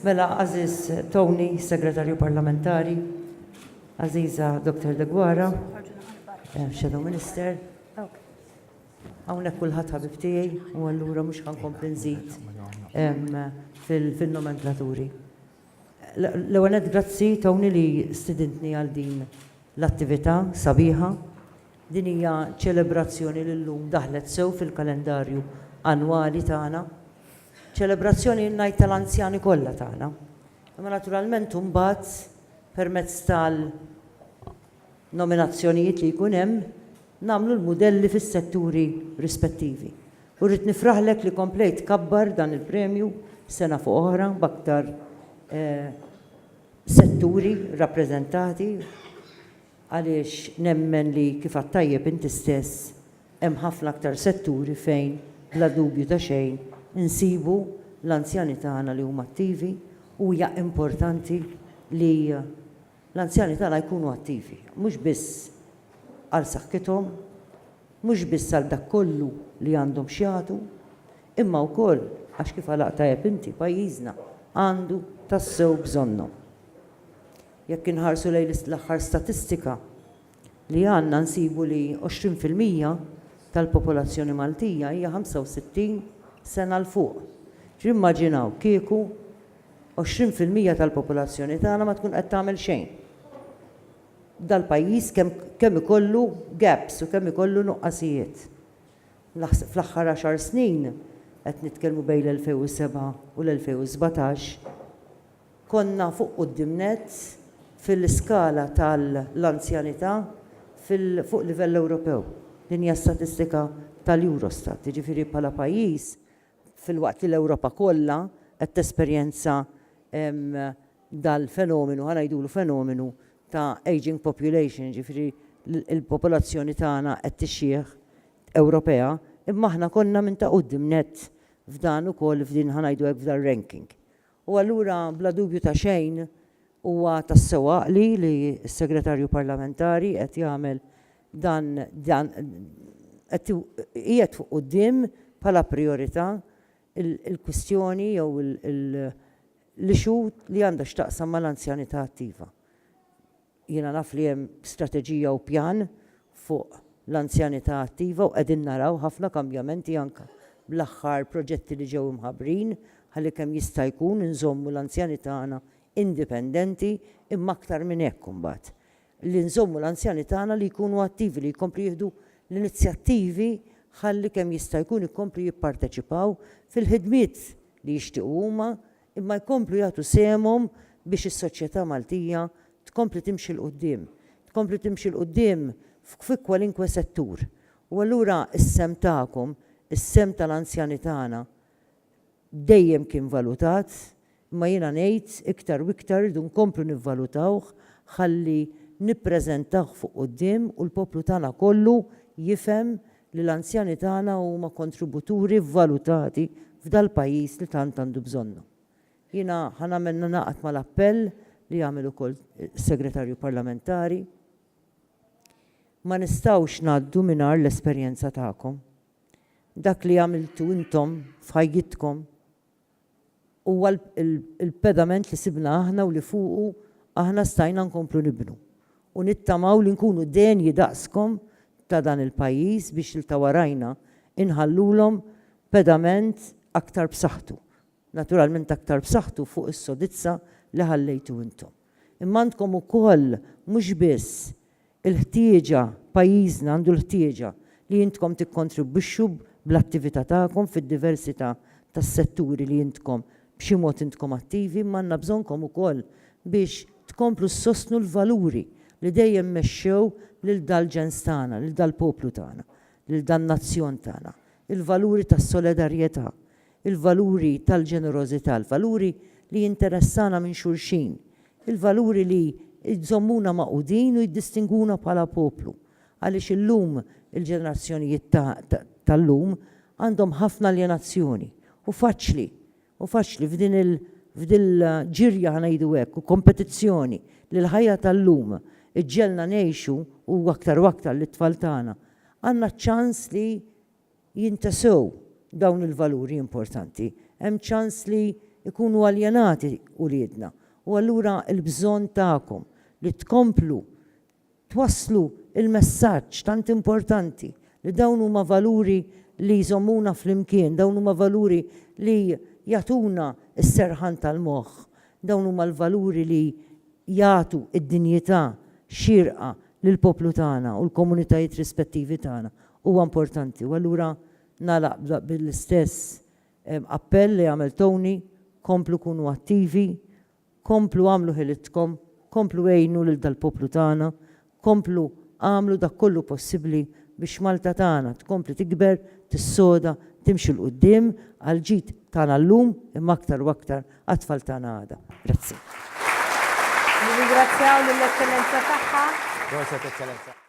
Mela, għażiż Tony, Segretarju Parlamentari, għażiża Dottor Deguara, Shadow Minister, hawnhekk kulħadd ħabib tiegħi u allura mhux ħa nkompli nżid fin-nomenklaturi. L-ewwel nett grazzi Tony li stidintni għal din L-attività sabiħa, din hija ċelebrazzjoni li llum daħlet sew fil-kalendarju annwali tagħna. Ċelebrazzjoni ngħid tal-anzjani kollha tagħna. Imma naturalment imbagħad permezz tal nominazzjonijiet li jkun hemm nagħmlu l-mudelli fis-setturi rispettivi. U rrid nifraħlek li komplejt tkabbar dan il-premju sena fuq oħra b'aktar setturi rappreżentati għaliex nemmen li kif għadt tajjeb inti stess hemm ħafna aktar setturi fejn bla dubju ta' xejn insibu l-anzjani tagħna li huma attivi u hija importanti li l-anzjani tagħna jkunu attivi mhux biss għal saħħithom mhux biss għal dak kollu li għandhom x'jagħtu imma wkoll għax kif għalaqt tajjeb inti, pajjiżna għandu tassew bżonnhom. Jekk inħarsu lejn l-aħħar statistika li għandna nsibu li 20 fil-mija tal-popolazzjoni Maltija hija 65 sena 'l fuq. Ġifieri immaġinaw kieku 20 fil-mija tal-popolazzjoni tagħna ma tkun qed tagħmel xejn. Dal-pajjiż kemm kemm ikollu gaps u kemm ikollu nuqqasijiet. Fl-aħħar għaxar snin, qed nitkellmu bejn l-2007 u l-2017, konna fuq quddiem nett fil-iskala tal-anzjanità fuq livell Ewropew. Din hija statistika tal-Eurostat. Jiġifieri bħala pajjiż, filwaqt li l-Ewropa kollha qed tesperjenza dal-fenomenu, ħa ngħidulu fenomenu, ta' ageing population, jiġifieri l-popolazzjoni tagħna qed tixjieħ, Ewropea, imma aħna konna minn ta' quddiem nett f'dan ukoll f'din ħa ngħidu hekk f'dar-ranking. U allura bla dubju ta' xejn huwa tassew għaqli li s-Segretarju Parlamentari qed jagħmel dan dan qed iqiegħed fuq quddiem bħala prijorità il-kwistjoni jew l-issue li għandha x'taqsam mal-anzjanità attiva. Jiena naf li hemm strateġija u pjan fuq l-anzjanità attiva u qegħdin naraw ħafna kambjamenti anke bl-aħħar proġetti li ġew imħabbrin ħalli kemm jista' jkun inżommu l-anzjani tagħna indipendenti imma aktar minn hekk imbagħad li nżommu l-anzjani tagħna li jkunu attivi, li jkomplu jieħdu l-inizjattivi ħalli kemm jista' jkun ikomplu jipparteċipaw fil-ħidmiet li jixtiequ huma imma jkomplu jagħtu sehemhom biex is-soċjetà Maltija tkompli timxi 'l quddiem, tkompli timxi 'l quddiem fi kwalinkwe settur. U allura s-sehem tagħkom, is-sehem tal-anzjani tagħna, dejjem kien valutat, imma jiena ngħid iktar u iktar irridu nkomplu nivvalutawh ħalli nippreżentawh fuq quddiem u l-poplu tagħna kollu jifhem li l-anzjani tagħna huma kontributuri vvalutati f'dal-pajjiż li tant għandu bżonnhom. Jiena ħa nagħmel ningħaqad mal-appell li għamel ukoll is-Segretarju Parlamentari. Ma nistgħux ngħaddu mingħajr l-esperjenza tagħkom. Dak li għamiltu intom f'ħajjitkom huwa l-pedament li sibna aħna u li fuqu aħna stajna nkomplu nibnu. U nittamaw li nkunu denji daqskom ta' dan il-pajjiż biex 'l ta' warajna inħallulhom pedament aktar b'saħħtu. Naturalment aktar b'saħħtu fuq is-sodizza li ħallejtu intom. imma għandkom ukoll mhux biss il-ħtieġa, pajjiżna għandu l-ħtieġa li intkom tikkontribwixxu bl-attività tagħkom fid-diversità tas-setturi li intkom b'xi mod intkom attivi imma għandna bżonnkom ukoll biex tkomplu ssostnu l-valuri li dejjem mexxew lil dal-ġens tagħna, lil dal-poplu tagħna, lil dan-nazzjon tagħna, il-valuri tas-solidarjetà, il-valuri tal-ġenerożità, il-valuri li jinteressana minn xulxin, il-valuri li jżommuna magħqudin u jiddistingwuna bħala poplu, għaliex illum il-ġenerazzjonijiet ta' tal-lum għandhom ħafna aljenazzjoni u faċli u faċli f'din il f'din l-ġirja ħa ngħidu hekk u kompetizzjoni li l-ħajja tal-lum iġġegħelna ngħixu u aktar u aktar lit-tfal tagħna għandna ċ-ċans li jintesew dawn il-valuri importanti, hemm ċans li jkunu aljenati uliedna u allura l-bżonn tagħkom li tkomplu twasslu l-messaġġ tant importanti li dawn huma valuri li jżommuna flimkien, dawn huma valuri li jagħtuna s-serħan tal-moħħ, dawn huma l-valuri li jagħtu d-dinjità xierqa lill-poplu tagħna u l-komunitajiet rispettivi tagħna Huwa importanti u allura nagħlaq bl-istess appell li għamel Tony, komplu kunu attivi, komplu għamlu ħilitkom, komplu għinu lil dal-poplu tagħna, komplu għamlu dak kollu possibbli biex Malta tagħna tkompli tikber, tissoda, timxi 'l quddiem għall-ġid tagħna llum imma aktar u aktar għat-tfal tagħna għada. Grazzi. Nirringrazzjaw lill-Eċċellenza Tagħha. Proset Eċċellenza.